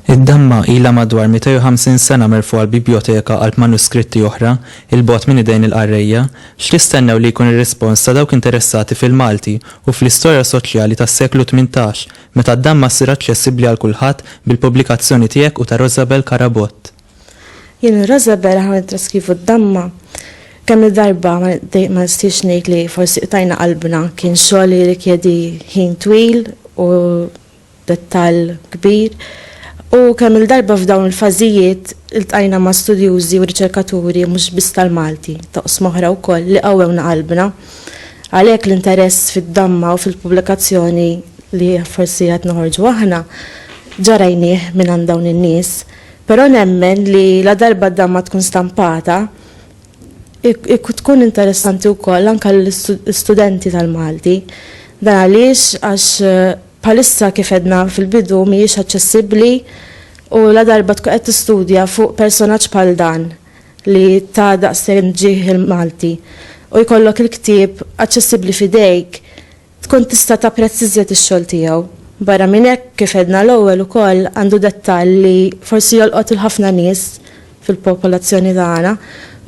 Id-damma ilha madwar 250 sena merfugħa l-bibjoteka qalb manuskritti oħra, 'il bogħod minn idejn il-qarrejja. X'tistennew li jkun ir-rispons ta' dawk interessati fil-Malti u fl-istorja soċjali tas-seklu tmintax? Meta d-damma ssir aċċessibbli għal kulħadd bil-pubblikazzjoni tiegħek u ta' Rosabel Carabott. Jien u Rosabel aħna nittraskrivu d-damma. Kemm-il darba ma nistiex ngħid li forsi qtajna qalbna, kien xogħol li jirrikjedi ħin twil u dettall kbir. U kemm-il darba f'dawn il-fażijiet iltqajna ma' studjużi u riċerkaturi mhux biss tal-Malti, t'oqsma oħra wkoll, li qawwewna qalbna. Għalhekk l-interess fid-damma u fil-pubblikazzjoni li forsi qed noħorġu aħna ġa rajnieh mingħand dawn in-nies, però nemmen li ladarba d-damma tkun stampata tkun interessanti wkoll anke għall-istudenti tal-Malti. Dan għaliex għax bħalissa kif għedna fil-bidu mhijiex aċċessibbli u ladarba tkun qed tistudja fuq personaġġ bħal dan, li ta daqsxejn ġieħ il-Malti u jkollok il-ktieb aċċessibbli f'idejk tkun tista' tapprezz iżjed ix-xogħol tiegħu. Barra minn hekk, kif għedna l-ewwel ukoll għandu dettall li forsi jolqot lil ħafna nies fil-popolazzjoni tagħna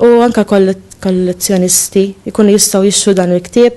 u anke kollezzjonisti jkunu jistgħu jixtru dan il-ktieb.